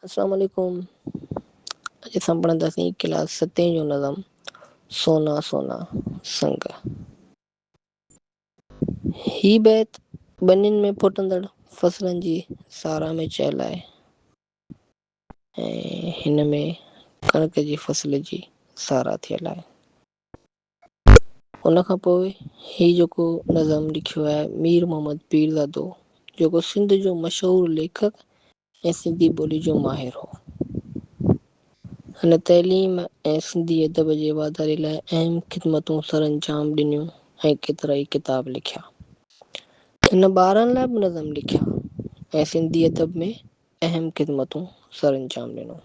السلام عليڪم اڄ اسان پڙهنداسين ڪلاس ستين جو نظم سونا سونا سنگ هي بيت ٻنين ۾ ڦٽندڙ فصلن جي ساراهه ۾ چيل آهي ۽ هن ۾ ڪڻڪ جي فصل جي ساراهه ٿيل آهي ان کان پوء هي جيڪو نظم لکيو آهي مير محمد پيرزادو جيڪو سنڌ جو مشهور ليکڪ ۽ سنڌي ٻولي جو ماهر هو. هن تعليم ۽ سنڌي ادب جي واڌاري لاء اهم خدمتون سرانجام ڏنيون ۽ ڪيترائي ڪتاب لکيا. هن ٻارن لاء به نظم لکيا ۽ سنڌي ادب ۾ اهم خدمتون سرانجام ڏنو.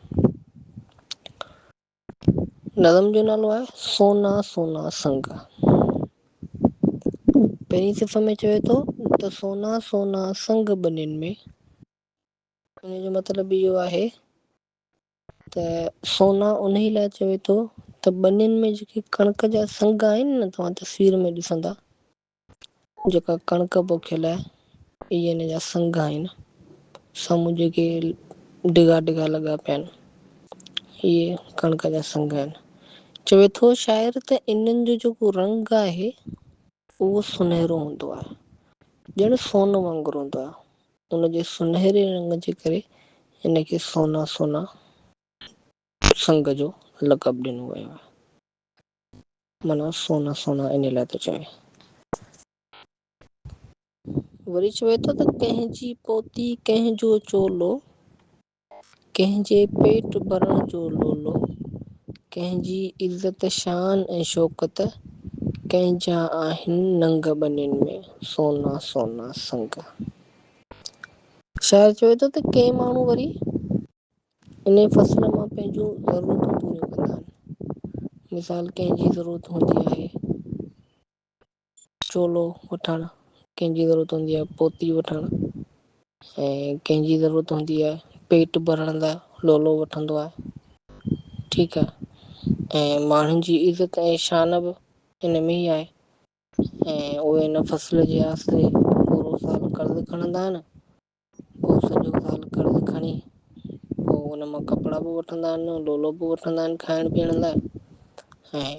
نظم جو نالو آهي سونا سونا سنگ. پهرين صفحي ۾ چوي ٿو ته سونا سونا سنگ ٻنين ۾. ان جو مطلب اهو آهي ته سونا انهي لاء چوي ٿو ته ٻنين ۾ جيڪي ڪڻڪ جا سنگ آهن نه توهان تصوير ۾ ڏسندا. جيڪا ڪڻڪ پوکيل آهي اهي هن جا سنگ آهن. سامهون جيڪي ڊگها ڊگها لڳا پيا آهن اهي ڪڻڪ جا سنگ آهن. چوي ٿو شاعر ته انهن جو جيڪو رنگ آهي اهو سنهرو هوندو آهي ڄڻ سون وانگر هوندو آهي. ان جي سنهري رنگ جي ڪري هن کي سونا سونا سنگ جو لقب ڏنو ويو آهي. معنيٰ سونا سونا انهي لاء ٿو چوي. وري چوي ٿو ته ڪنهن جي پوتي ڪنهن جو چولو، ڪنهن جي پيٽ ڀرڻ جو لولو، ڪنهن جي عزت شان ۽ شوڪت، ڪنهن جا آهن ننگ ٻنين ۾، سونا سونا سنگ. شاعر چوي ٿو ته ڪي ماڻهو وري انهيء فصل مان پنهنجون ضرورتون پوريون ڪندا آهن. مثال ڪنهن جي ضرورت هوندي آهي چولو وٺڻ، ڪنهن جي ضرورت هوندي آهي پوتي وٺڻ ۽ ڪنهن جي ضرورت هوندي آهي پيٽ ڀرڻ لاء لولو وٺندو آهي. ٺيڪ آ ۽ ماڻهن جي عزت ۽ شان به ان ۾ ئي آهي. ۽ اهي ان فصل جي آسري پورو سال قرض کڻندا آهن پو سڄو سال قرض کڻي پو ان مان ڪپڙا به وٺندا آهن لولو به وٺندا آهن کائڻ پيئڻ لاء ۽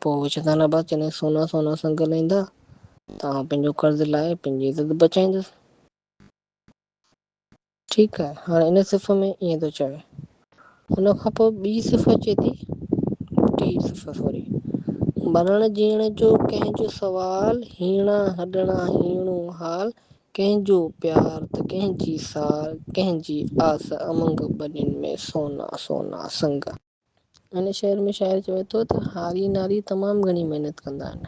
پو چوندا آهن ابا جڏهن سونا سونا سنگل ايندا ته آئون پنهنجو قرض لاهي پنهنجي عزت بچائيندس ٺيڪ آهي هاڻ ان صف ۾ ائين ٿو چوي ان کان پوء ٻي صفت چئي ٿي، ٽي صفت سوري، مرڻ جيئڻ جو ڪنهن جو سوال، هيڻا هڏڻا هيڻو حال، ڪنهن جو پيار ته ڪنهن جي سار، ڪنهن جي آس امنگ، ٻنين ۾ سونا سونا سنگ. هن شعر ۾ شاعر چوي ٿو ته هاري ناري تمام گهڻي محنت ڪندا آهن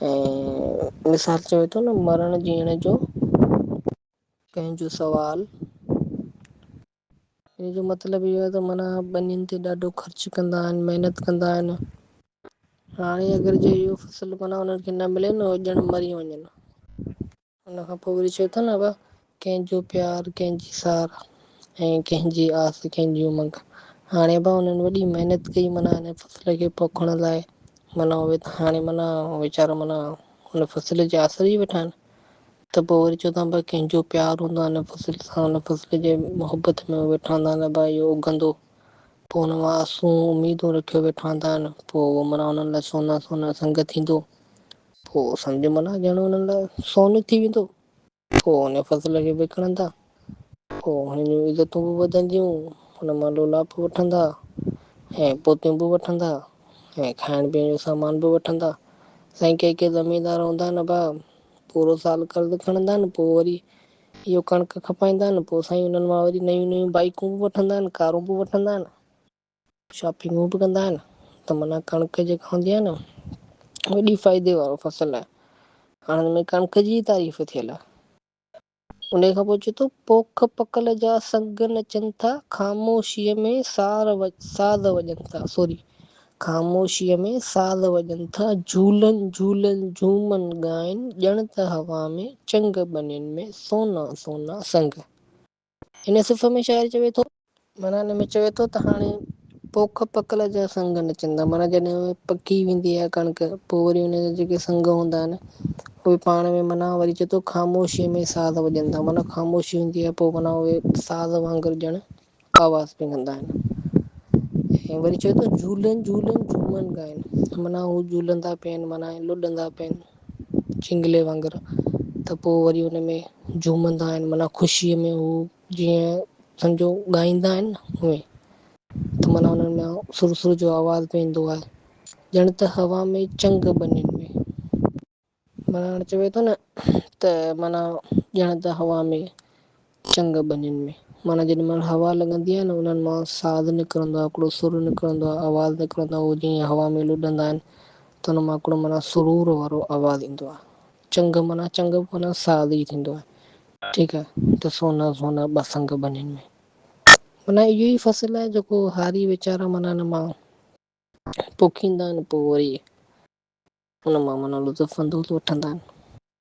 ۽ مثال چوي ٿو نه مرڻ جيئڻ جو ڪنهن جو سوال، ان جو مطلب اهو آهي ته معنيٰ ٻنين تي ڏاڍو خرچ ڪندا آهن، محنت ڪندا آهن. هاڻي اگر جي اهو فصل معنيٰ انهن کي نه ملي نه ڄڻ مري وڃن. ان کان پوء وري چئي ٿو نه ابا ڪنهن جو پيار ڪنهن جي سار ۽ ڪنهن جي آس ڪنهن جي امنگ. هاڻي ابا انهن وڏي محنت ڪئي معنيٰ ان فصل کي پوکڻ لاء معنيٰ اهي ته هاڻي معنيٰ ويچارا معنيٰ ان فصل جي آسري ويٺا آهن. ته پوء وري چوندو آهيان ڀاء ڪنهن جو پيار هوندو آهي هن فصل سان هن فصل جي محبت ۾ هو ويٺا هوندا آهن ڀاء اهو اگهندو پوء هن مان آسون اميدون رکيو ويٺا هوندا آهن پوء اهو منا هنن لاء سونا سونا سنگ ٿيندو پوء سمجهه منا ڄڻ هنن لاء سونو ٿي ويندو پوء هن فصل کي وڪڻندا پوء هنن جون عزتون به وڌنديون، هن مان لولاپ وٺندا. ۽ پوتيون به وٺندا ۽ کائڻ پيئڻ جو سامان به وٺندا. سائين ڪي ڪي زميندار هوندا نه ڀا پورو سال قرض کڻندا آهن پوء وري اهو ڪڻڪ کپائيندا آهن پوء سائين انهن مان وري نيون نيون بائيڪون به وٺندا آهن ڪارون به وٺندا آهن شاپنگون به ڪندا آهن ته معنيٰ ڪڻڪ جيڪا هوندي آهي نه وڏي فائدي وارو فصل آهي هاڻ هن ۾ ڪڻڪ جي ئي تعريف ٿيل آهي. انهيء کان پوء چئي ٿو، پوک پکل جا سڱ نچن ٿا، خاموشيء ۾ سار ساز وڄن ٿا، سوري، خاموشيء ۾ ساز وڄن ٿا، جهولن جهولن جهومن ڳائن، ڄڻ ته هوا ۾ چنگ ٻنين ۾، سونا سونا سڱ. هن صفحي ۾ شاعر چوي ٿو. معنيٰ هن ۾ چوي ٿو ته هاڻي پوک پڪل جا سنگ نچندا معنيٰ جڏهن اهي پڪي ويندي آهي ڪڻڪ پو وري ان جا جيڪي سنگ هوندا آهن اهي پاڻ ۾ معنيٰ وري چي ٿو خاموشي ۾ ساز وڄن ٿا معنيٰ خاموشي هوندي آهي پو معنيٰ اهي ساز وانگر ڄڻ آواز پي ڪندا آهن ۽ وري چوي ٿو جهولن جهولن جهومن ڳائن معنيٰ هو جهولندا پيا آهن معنيٰ لڏندا پيا آهن جهنگلي وانگر ته پو وري ان ۾ جهومندا آهن معنيٰ خوشيء ۾ هو جيئن سمجهو ڳائيندا آهن اوئين ته مانا انهن ۾ سر سر جو آواز به ايندو آهي ڄڻ ته هوا ۾ چنگ ٻنين ۾. مانا هاڻي چوي ٿو نه ته مانا ڄڻ ته هوا ۾. چنگ ٻنين ۾، مانا جيڏي مهل هوا لڳندي آهي نه انهن مان ساز نڪرندو آهي هڪڙو سر نڪرندو آهي آواز نڪرندو آهي هو جيئن هوا ۾ لڏندا آهن ته ان مان هڪڙو مانا سرور وارو آواز ايندو آهي چنگ معنيٰ چنگ معنيٰ ساز ئي ٿيندو آهي ٺيڪ آهي ته سونا سونا ٻه سنگ ٻنين ۾. معنيٰ اهو ئي فصل آهي جيڪو هاري ويچارا معنيٰ ان مان پوکيندا آهن پوء وري ان مان معنيٰ لطف اندوز وٺندا آهن.